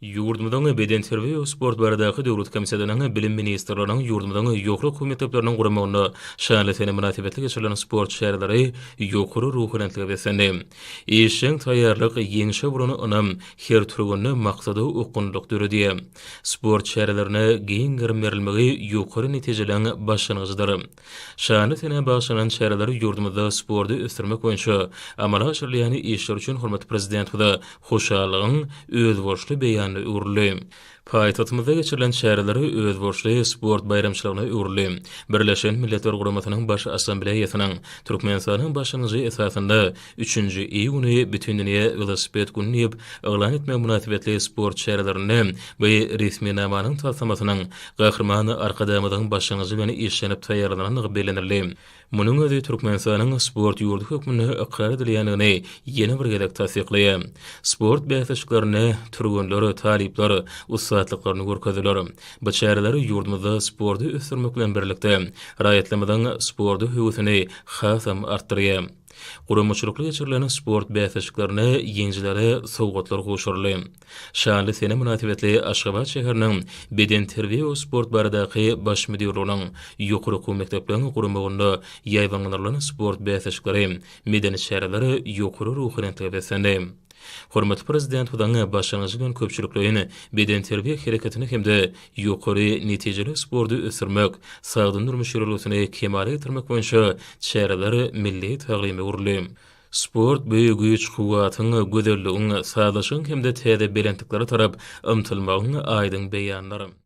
Ýurdumyzyň Bedenterbiýe we sport baradaky döwlet komissiýasynyň, Bilim ministrliginiň, ýurdumyzyň ýokary okuw mekdepleriniň guramagynda şanly sene mynasybetli geçirilen sport çäreleri ýokary ruhubelentlige beslendi. Işjeň taýýarlyk, ýeňşe bolan ynam her türgeninde maksada okgunlylyk döredýär. Sport çärelerine giň gerim berilmegi ýokary netijeligiň başlangyjydyr. Şanly senä bagyşlanan çäreler ýurdumyzda sporty ösdürmek boýunça amala aşyrylýan işler üçin hormatly Prezidentimize hoşallygyň özboluşly beýanyna öwrüldi. Paýtagtymyzda geçirilen çäreler özboluşly sport baýramçylygyna öwrüldi. Birleşen Milletler Guramasynyň Baş Assambleýasynyň Türkmenistanyň başlangyjy esasynda Üçünji iý güni Bütindünýä welosiped güni diýip yglan etmek mynasybetli sport çärelerinde bu resminamanyň taslamasynyň Gahryman Arkadagymyzyň başlangyjy bilen işlenip taýýarlanandygy bellenildi. Munuň özi Türkmenistanyň sport ýurdy hökmünde ykrar edilýändigini ýene bir gezek tassyklaýar. Sport bäsleşiklerinde türgenler, talyplar ussatlyklaryny görkezdiler. Bu çäreler ýurdumyzda sporty ösdürmek bilen birlikde, raýatlarymyzyň sporta höwesini hasam artdyrýar. Guramaçylykly geçirilen sport bäsleşiklerinde ýeňijilere sowgatlar gowşuryldy. Şanly sene mynasybetli Aşgabat şäheriniň Bedenterbiýe we sport baradaky Baş müdirliginiň ýokary okuw mekdepleň guramagynda ýaýbaňlandyrylan sport bäsleşikleri, medeni çäreler ýokary ruhubelentlige beslendi. Hormatly Prezidentimiziň başlangyjy bilen köpçülikleýin bedenterbiýe hereketini hem-de ýokary netijeli sporty ösdürmek, sagdyn durmuş ýörelgesini kemala getirmek boýunça çäreler milli taglyma öwrüldi. Sport bu güýç-kuwwatyň, gözelligiň, sazlaşygyň hem-de täze belentliklere tarap ymtylmagyň aýdyň beýanydyr.